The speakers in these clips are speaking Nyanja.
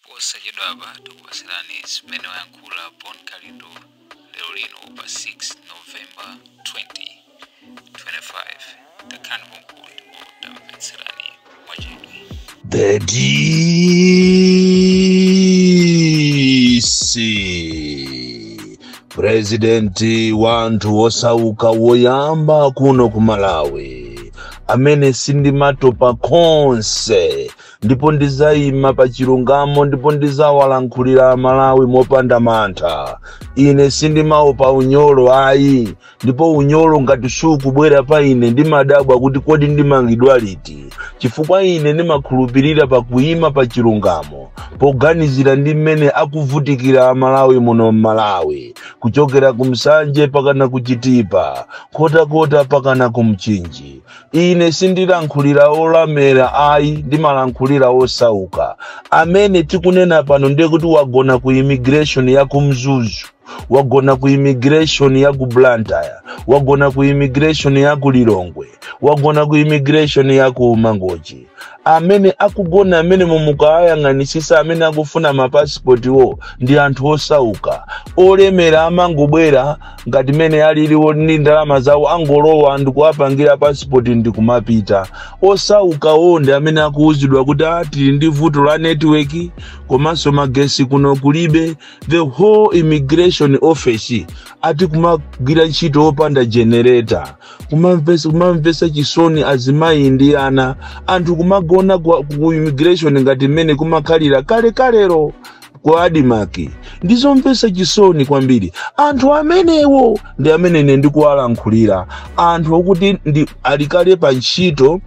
posachedwapa tikupatsirani zimene wayankhula bon kalindo lero lino pa 6 novemba 2025 takhalani pomwepo tamvetserani mwachidwi The DC Presidenti wanthu wosauka woyamba kuno ku Malawi amene sindimatopa konse ndipo ndizayima pa chilungamo ndipo ndizawalankhulira amalawi mopanda mantha ine sindimaopa unyolo ayi ndipo unyolo ngati sukubwera pa ine ndimadabwa kuti kodi ndimangidwa liti chifukwa ine ndimakhulupirira pa kuyima pa chilungamo poganizira ndi mmene akuvutikira amalawi muno mmalawi kuchokera ku Nsanje pakana ku chitipa Nkhotakota pakana ku mchinji Ine sindilankhulira olemera ayi, ndimalankhulira osauka. Amene tikunena pano ndiye kuti wagona ku immigration ya ku Mzuzu, wagona ku immigration ya ku Blantyre, wagona ku immigration ya ku Lilongwe, wagona ku immigration ya ku Mangochi. amene akugona amene mumukawayang'anisisa amene akufuna mapasipotiwo ndi anthu osauka olemera amangobwera ngati mene aliliwo ndi ndalama zawo angolowa ndikuwapangira pasipoti ndikumapita osaukawo ndi amene akuwuzidwa kuti ati tili ndi vuto la netiweki komanso magesi kuno kulibe the whole immigration office ati kumagwira ntchito opanda generator kumamvesa chisoni azimayi ndi ana anthu kumagona ku immigration ngati mmene kumakhalira kalekalero ku adimaki ndizomvesa chisoni kwambiri anthu amenewo ndi amene ine ndikuwalankhulira anthu okuti alikale pa ntchito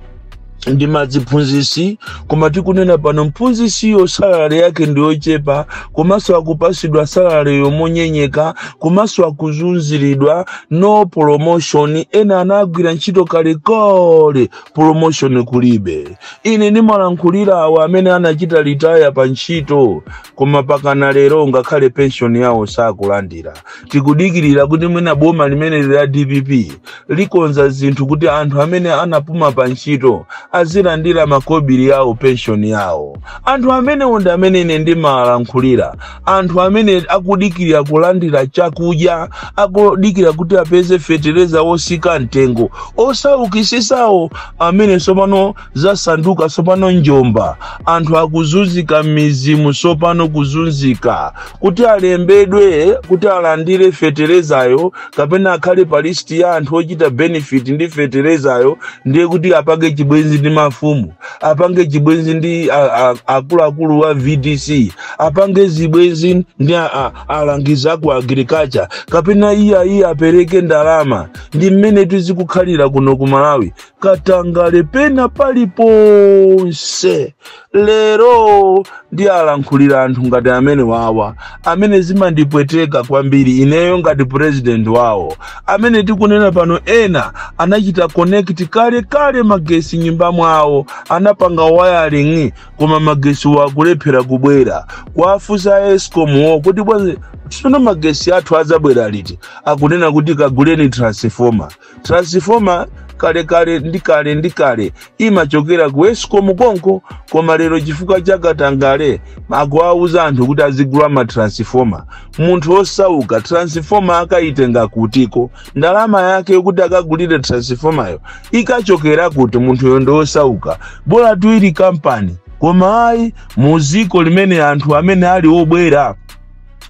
ndi maziphunzisi koma tikunena pano mphunzisiyo salale yake ndiyochepa komanso akupasidwa salale yomanyenyeka komanso akuzunziridwa no promotion ena anagwira ntchito kalekale promotion kulibe ine ndimalankhulira awo amene anachita litaya pa ntchito koma pakana lero ngakhale pension yawo sakulandira tikudikirira kuti mwina boma limeneli la dpp likonza zinthu kuti anthu amene anapuma pa ntchito azilandira makobiri yawo penshoni yawo anthu amenewo ndi amene ine ndimalankhulira anthu amene akudikirira kulandira chakudya akudikira kuti apeze fetereza wotsika mtengo osaukisisawo amene tsopano zasanduka tsopano njuga anthu akuzunzika m'midzimu tsopano kuzunzika kuti alembedwe kuti alandire feterezayo kapena akhale pa listi ya anthu ochita benefit ndi feterezayo ndiye kuti apange chibwenzi ndi mafumu apange zibwenzi ndi a- a- akuluakulu wa vdc apange zibwenzi ndi a- a- alangizi a ku agriculture kapena iye ayiye apereke ndalama ndi mmene tizikukhalira kuno ku malawi katangale pena paliponse lero ndiyalankhulira anthu ngati amenewawa amene zimandipweteka kwambiri ineyo ngati president wawo amene tikunena pano ena anachita connect kale kale magesi m'nyumba mwawo anapanga wiring koma magesi wakulephera kubwera kuwafunsa escom wo kuti bwanji tsono magesi athu adzabwera liti akunena kuti kaguleni transformer transifoma kale kale ndi kale ndi kale imachokera ku escom konko koma lero chifukwa cha katangale akuwauza anthu kuti azigula ma transifoma munthu osauka transifoma akayitenga kutiko ndalama yake yokuti akagulire transifomayo ikachokera kuti munthuyo ndi osauka bola itakhala kampani koma ayi mu dziko limene anthu amene ali obwera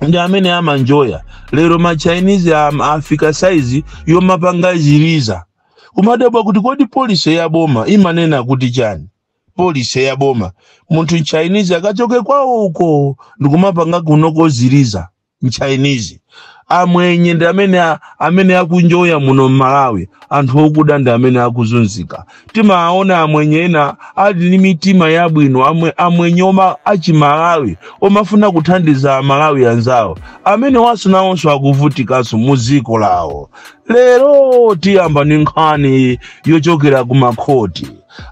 ndi amene amanjoya lero ma chinese am- afika saizi yomapanga ziliza kumadabwa kuti kodi policy ya boma imanena kuti chani policy ya boma munthu mchinese akachoke kwawo uko ndikumapanga kunoko ziliza mchinese amwenye ndi amene a- amene akunjoya muno m'malawi anthu okuda ndi amene akuzunzika timaona amwenye ena ali ndi mitima yabwino amwe, amwenye oma- achimalawi omafuna kuthandiza amalawi anzawo amenewanso nawonso akuvutikanso mu dziko lawo lero tiyamba ndi nkhani yochokera ku makhoti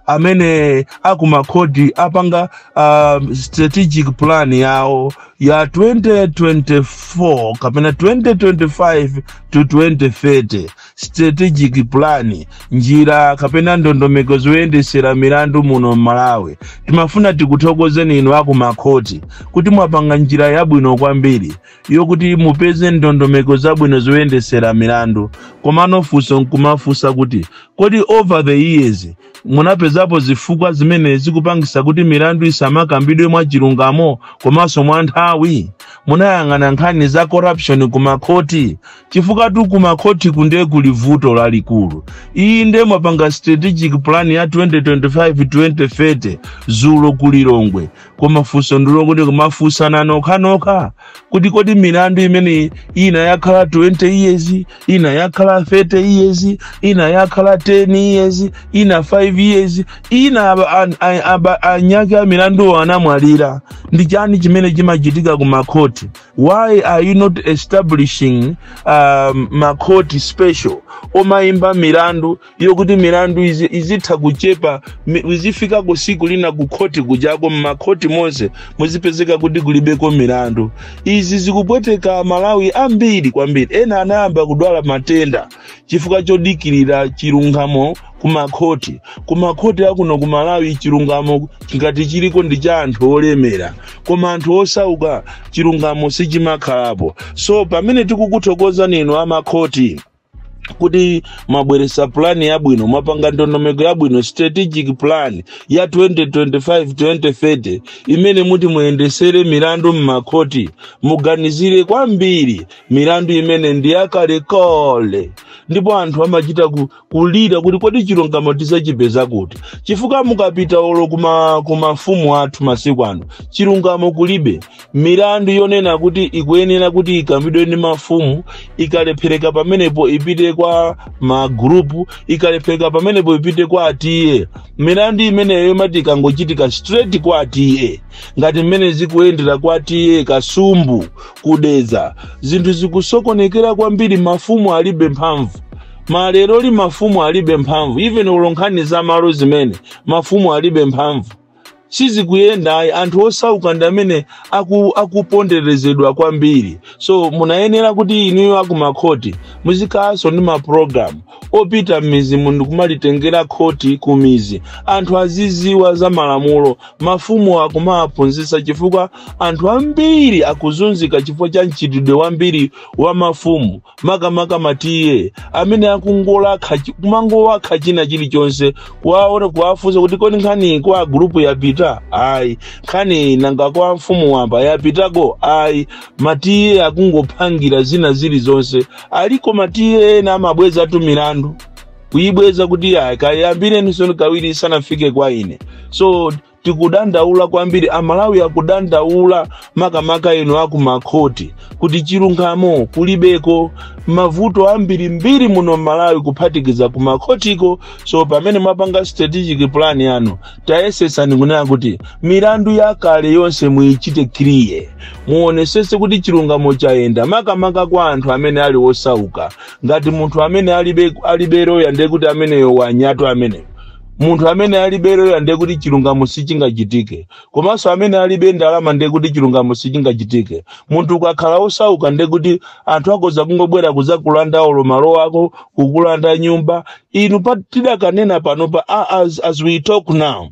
amene akumakhoti apanga uh, strategic plan yawo ya 2024 kapena 2025 to 2030 strategic plan njira kapena ndondomeko zoyendesera milandu muno m'malawi timafuna tikuthokozeni inu akumakhoti kuti mwapanga njira yabwino kwambiri yokuti mupeze ndondomeko zabwino zoyendesera milandu komano funso nkumafunsa kuti kodi over the years munapezapo zifukwa zimene zikupangisa kuti milandu isamakambidwe mwa chilungamo komanso mwa nthawi munayang'ana nkhani za corruption kumakhoti chifukwatu kumakhotiku ndiye kuli vuto lalikulu iyi ndiye mwapanga strategic plan ya 2025-2030 zulo ku Lilongwe koma funso ndi loti ndikumafunsana nokhanokha kuti kodi milandu imene ina yakhala 20 years ina yakhala 30 years ina yakhala 10 years ina 5 years ina aba- an- a- aba- anyake a milanduwo anamwalira ndi chani chimene chimachitika kumakhoti why are you not establishing um, makhoti special omayimba milandu yokuti milandu izi- izitha kuchepa mi- izifika ku tsiku lina kukhoti kujako mmakhoti monse muzipezeka kuti kulibeko milandu izi zikupweteka aMalawi ambiri kwambiri ena anayamba kudwala matenda chifukwa chodikirira chilungamo kumakhoti kumakhoti akuno ku Malawi chilungamo ngati chiliko ndi cha anthu olemera koma anthu osauka chilungamo sichimakhalapo so pamene tikukuthokozani inu amakhoti kuti mwabweretsa pulani yabwino mwapanga ndondomeko yabwino strategic plan ya 2025-2030 imene muti muyendetsere milandu m'makhoti muganizire kwambiri milandu imene ndi yakalekale ndipo anthu amachita ku, kulira kuti kodi chilungamo tidzachipeza kuti chifukwa mukapita olo kuma, ku mafumu athu masiku ano chilungamo kulibe milandu yonena kuti ikuyenera kuti ikambidwe ndi mafumu ikalephereka pamenepo ipite kwa magulupu ikalephereka pamenepo ipite kwa a T/A milandu imeneyo imati ikangochitika straight kwa a T/A ngati mmene zikuyendera kwa a T/A Kasumbu ku Dedza zinthu zikusokonekera kwambiri mafumu alibe mphamvu maleroli mafumu alibe mphamvu even olo nkhani za malo zimene mafumu alibe mphamvu sizikuyenda ayi anthu osauka ndi amene aku, akuponderezedwa kwambiri so munayenera kuti inuyo akumakhoti muzikhalanso ndi mapulogalamu opita m'midzimu ndikumalitengera khoti ku midzi anthu azidziwa za malamulo mafumu kumawaphunzitsa chifukwa anthu ambiri akuzunzika chifukwa cha mchitidwe wambiri wa mafumu makamaka ma T/A amene akungowakha chi- kumangowakha china chilichonse kuwaona kuwafunsa kuti kodi nkhani kwa gulupu yapita ayi nkhani nanga kwa mfumu wamba yapitako ayi ma T/A akungophangira zina zilizonse aliko ma T/A ena amabwezatu milandu kuyibweza kuti ayi kayambireninso kawiri isanafike kwa ine so tikudandaula kwambiri amalawi akudandaula makamaka inu akumakhoti kuti chilungamo kulibeko mavuto ambiri mbiri muno mmalawi kuphatikiza kumakhotiko so pamene mwapanga strategic plan yanu tayesesani kunena kuti milandu yakale yonse muyichite kriye muonesese kuti chilungamo chayenda makamaka kwa anthu amene ali osauka ngati munthu amene alibe alibe loya ndekuti ameneyo wanyatwa ameneyo munthu amene alibe loya ndiye kuti chilungamo sichingachitike komanso amene alibe ndalama ndiye kuti chilungamo sichingachitike munthu ukakhala osauka ndiye kuti anthu akoza kungobwera kuzakulanda olo malo ako kukulanda nyumba inu pa tikanena panopa a- as, as we talk now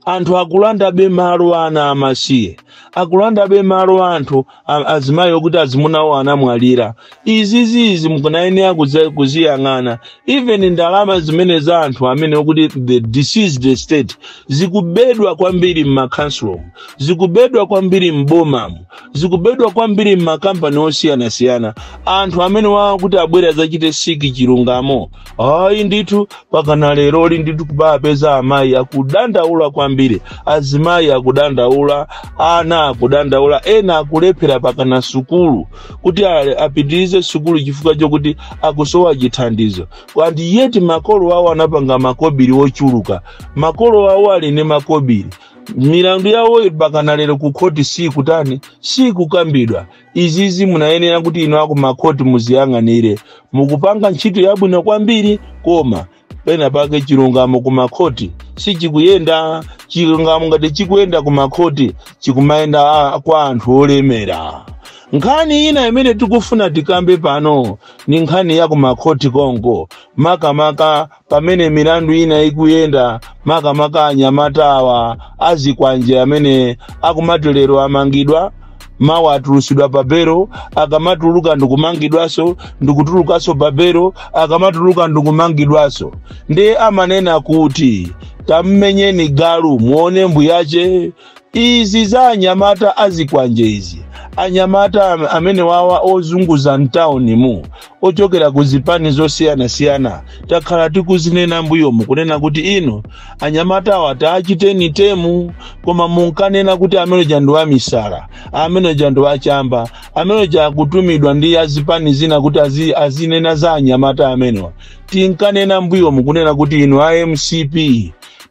anthu akulandabe malo a ana amasiye akulandabe malo a anthu a- azimayi okuti azimunawo anamwalira izizizi munayenera kuzi- kuziyang'ana even ndalama zimene za anthu amene okuti the deceased estate zikubedwa kwambiri m'makhansulo zikubedwa kwambiri m'bomamu zikubedwa kwambiri m'makampani osiyanasiyana anthu amene wakuti abwere adzachite siki chilungamo ayi ndithu pakana leroli ndithu kuwapeza amayi akudandaula kwambiri azimayi akudandaula ana akudandaula ena akulephera pakana sukulu kuti ale- apitirize sukulu chifukwa chokuti akusowa chithandizo and yet makolo awo anapanga makobiri ochuluka makolo awo ali ndi makobiri milandu yawo pakana lero ku khoti sikutani sikukambidwa izizi munayenera kuti inu akumakhoti muziyang'anire mukupanga ntchito yabwino kwambiri koma pena pake chilungamo kumakhoti sichikuyenda chilungamo ngati chikuyenda kumakhoti chikumayenda a- kwa anthu olemera nkhani ina imene tikufuna tikambe pano ni nkhani ya kumakhoti konko makamaka pamene milandu ina ikuyenda makamaka anyamata awa azikwanje amene akumati lero amangidwa mawa atulusidwa pa belo akamatuluka ndikumangidwaso ndikutulukaso pa belo akamatuluka ndikumangidwaso ndiye amanena kuti tammenyeni galu muone mbuyache Izi za anyamata azikwanje izi. Anyamata am- amenewawa ozunguza mtauni mu ochokera ku zipani zosiyanasiyana takhala tikuzinena mbuyomu kunena kuti inu anyamatawa tawachiteni temu koma munkanena kuti ameneja ndi wamisala ameneja ndi wachamba ameneja akutumidwa ndi azipani zina kuti azi, azinena za anyamata amenewa tinkanena mbuyomu kunena kuti inu a mcp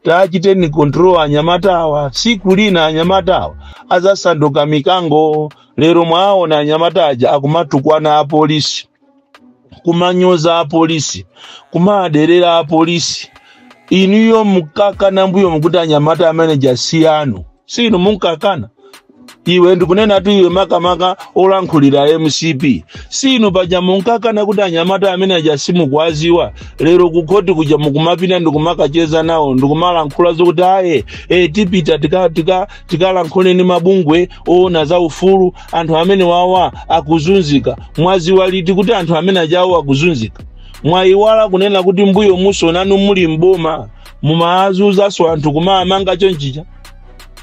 tachiteni control anyamata awa tsiku lina anyamata awa azasanduka mikango lero mwaona anyamata aja akumatukwana apolisi kumanyoza apolisi kumaderera apolisi inuyo nkukana mbuyomu kuti anyamata amene aja si anu si inu munkakana iwe ndikunenatu iwe makamaka olankhulira mcp si inu paja munkakana kuti anyamata amene aja simukwaziwa lero kukhoti kuja mukumapita ndikumakacheza nawo ndikumalankhula zokuti aye e, tipita tikalankhule tika, tika tikalankhule ndi mabungwe oona za ufulu anthu amene wawa akuzunzika mwaziwa liti kuti anthu amene ajawo akuzunzika mwayiwala kunena kuti mbuyomuso nanu muli mboma mumaazunzanso anthu kumamanga chonchija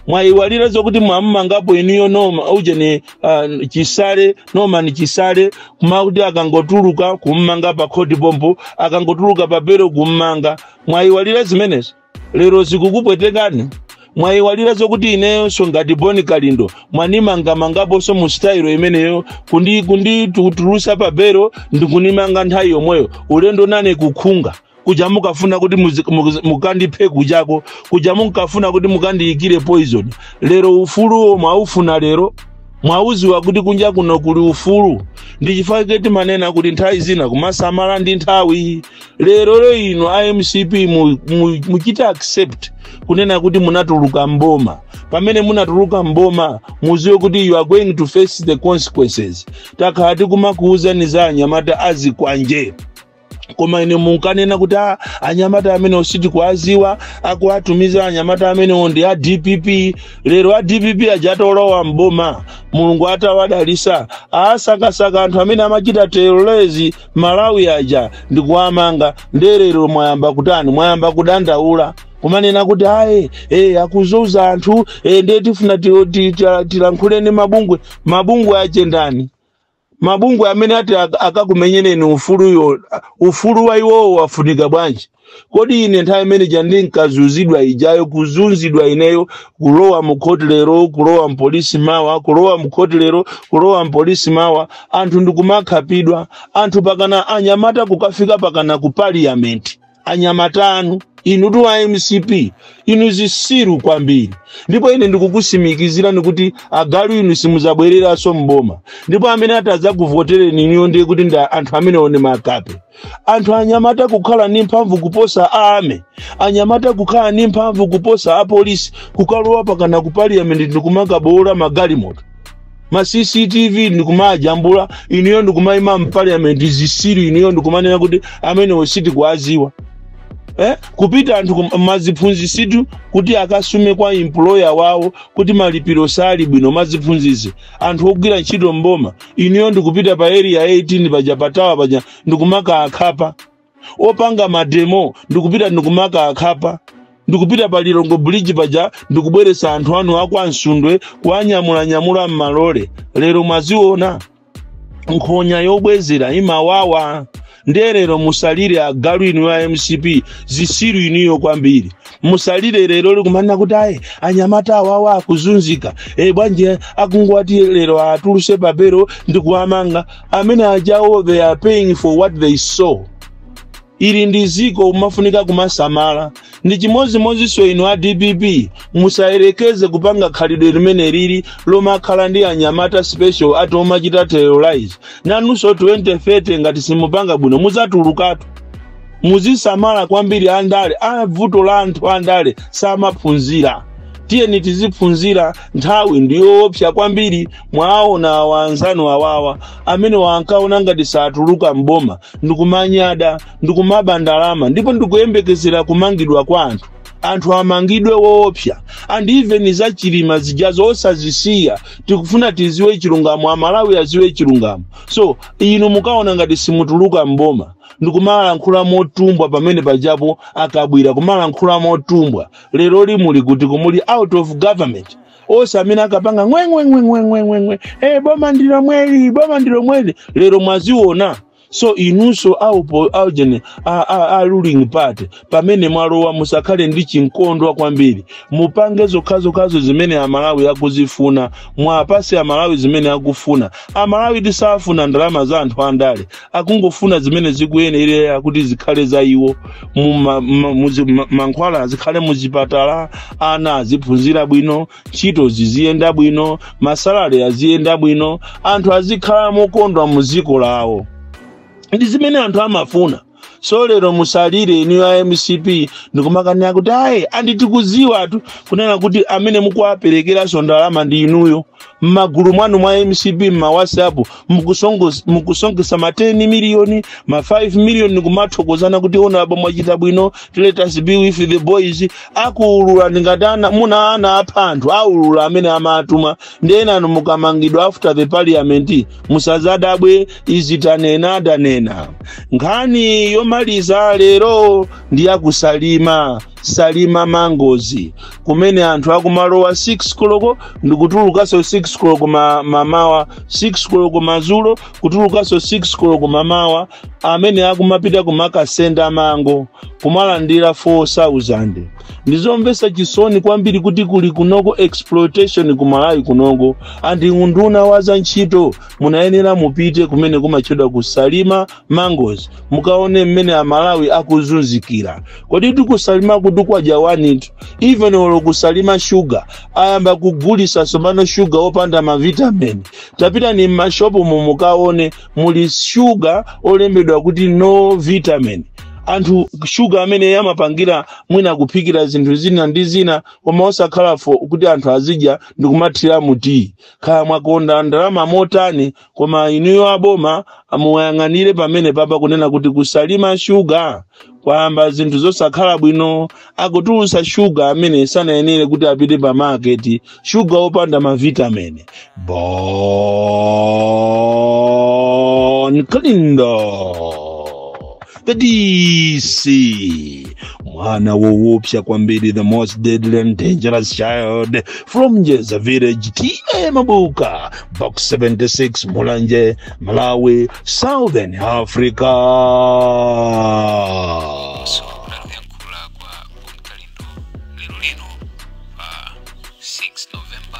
mwayiwalira zokuti mwammangapo inuyo Norman ujeni uh, chisale Norman Chisale kumakuti akangotuluka kummanga pa khoti pompo akangotuluka pa belo kummanga mwayiwalira zimenezo lero zikukupwetekani mwayiwalira zokuti ineyonso ngati boni kalindo mwanimangamangaponso mu sitayilo imeneyo kundi kunditulusa pa belo ndikunimanga nthawi yomweyo ulendo nane kukhunga kuja mukafuna kuti muzi- muzi- mukandiphe kujako kuja munkafuna kuti mukandiyikire poison lero ufuluwo mwaufuna lero mwauziwa kuti kunja kuno kuli ufulu ndi chifake timanena kuti nthawi zina kumasamala ndi nthawi lerolo inu a mcp mu- mu- muchite accept kunena kuti munatuluka mboma pamene munatuluka mboma muziwe kuti you are going to face the consequences takhala tikumakuwuzani za anyamata azikwanje koma inu munkanena kuti "Ah, anyamata amenewo sitikuwaziwa akuwatumiza anyamata amenewo ndi a dpp lero a dpp aja atolowa mboma mulungu atawadalisa asakasaka anthu amene amachita terrorize malawi aja ndikuwamanga nde lero mwayamba kutani mwayamba kudandaula kumanena kuti aye eh, akuzunza anthu eh, ndiye tifuna ti- ti- ti- tilankhule ni mabungwe mabungwe ache ndani mabungwe amene ati ak- akakumenyereni ufuluwo ufulu wa iwowo wafunika bwanji kodi ine nthawi imene ija ndinkazunzidwa ijayo kuzunzidwa ineyo kulowa mukhoti lero kulowa mpolisi mawa kulowa mukhoti lero kulowa mpolisi mawa anthu ndikumakhapidwa anthu pakana anyamata kukafika pakana ku parliament anyamata anu inutu a mcp inu zisiru kwambiri ndipo ine ndikukusimikizirani kuti agalu inu simuzabwereranso mboma ndipo amene ati adzakuvotereni inuyo ndiye kuti ndi anthu amenewo ni makape anthu anyamata kukhala ndi mphamvu kuposa ame anyamata kukhala ndi mphamvu kuposa apolisi kukalowa pakana ku parliament ndikumakaboola magalimoto ma cctv ndikumawajambula inuyo ndikumaima mpaliament zisiru inuyo ndikumanena kuti amenewo sitikuwaziwa eh? kupita anthu kum- maziphunzisitu kuti akasume kwa employer wawo kuti malipiro sali bwino maziphunzitsi anthu ogwira ntchito mboma inuyo ndikupita pa area 18 paja patawa paja ndikumakakhapa opanga mademo ndikupita ndikumakawakhapa ndikupita pa lilongwe bridge paja ndikubweretsa anthu anu akwa msundwe kuwanyamulanyamula m'malole lero mwaziona nkhonya yobwezera imawawa ndiye lero musalire agalu inu a mcp zisiru inuyo kwambiri musalire lero lino kumanena kuti ayi anyamata awawa akuzunzika e bwanji akungoti lero atuluse pa belo ndikuwamanga amene ajawo they are paying for what they sow ili ndi ziko umafunika kumasamala ndi chimodzimodzinso inu a dpp musayerekeze kupanga khalidwe limeneli lomakhala ndi anyamata special ati omachita terrorise nanunso 2030 ngati simupanga bwino muzatulukatu muzisamala kwambiri andale a vuto la anthu andale samaphunzira tiyeni tiziphunzira nthawi ndiyoopsa kwambiri mwaona awa anzanu awawa amene ankaona ngati satuluka mboma ndikumanyada ndikumaba ndalama ndipo ndikuyembekezera kumangidwa kwa anthu anthu amangidwe woopsa and even za chilima zija osazisiya tikufuna tiziwe chilungamo amalawi aziwe chilungamo so inu munkaona ngati simutuluka mboma ndikumalankhula motumbwa pamene pajapo akabwira kumalankhula motumbwa leroli muli kuti muli out of government onse amene ankapanga ngwengwengwengwengwengwe e boma ndilomweli boma ndilomweli lero mwaziona so inunso aupo aujeni a, a, a ruling party pamene mwalowa musakhale ndi chinkondwa kwambiri mupange zokhazokhazo zimene amalawi akuzifuna mwapase amalawi zimene akufuna amalawi sakufuna ndalama za anthu andale akungofuna zimene zikuyenera kuti zikhale za iwo Mu ma- ma- muzi- ma- mankhwala azikhala muzipatala ana aziphunzira bwino ntchito ziziyenda bwino masalare aziyenda bwino anthu azikhala mokondwa mu ziko lawo ndi zimene anthu amafuna so lero musalire inu a mcp ndikumakana kuti ayi and tikuziwatu kunena kuti amene mukuwaperekeranso ndalama ndi inuyo mmagulu mwanu mwa mcp mmawhatsapp mukusonkho- mukusonkhesa ma 10 miliyoni ma 5 miliyoni kumathokozana kuti honourable mwachita bwino let us be with the boys akuulula ndingati anamuna anaapha anthu aulula amene amatuma ndi enanu mukamangidwa after the parliament musazadabwe izi tanena tanena nkhani yomaliza lero ndi yakusalima salima mangozi kumene anthu akumalowa 6 koloko ndikutulukanso 6 koloko ma- mamawa 6 koloko mazulo kutulukanso 6 koloko mamawa amene akumapita kumakasenda mango kumalandira 4000 ndizomvesa chisoni kwambiri kuti kuli kunoko exploitation ku malawi kunoko a nduna unduna wa za ntchito munayenera mupite kumene kumatchedwa ku salima mangozi mukaone mmene amalawi akuzunzikira kodi ku salima ku kwadya wanitu even olo ku salima shuga ayamba kugulisa tsopano shuga opanda mavitamini tapitani mmashopumo mukaone muli shuga olembedwa kuti no vitamin anthu shuga amene amapangira mwina kuphikira zinthu zina ndi zina koma osakhala for kuti anthu azidya ndikumathira mu tiyi khala mwakonda ndalama motani koma inuyo aboma amuyang'anire pamenepapa kunena kuti ku salima shuga kwayamba zinthu zosakhala bwino akutulutsa shuga amene sanayenere kuti apite pa maketi shuga wopanda mavitamini bon kalindo the DC, mwana woopsa kwambiri, the most deadly and dangerous child from Jeza village, TA Mabuka, box 76, Mulanje, Malawi, Southern Africa. kuyankhula kwa bon kalindo lero lino pa 6 novemba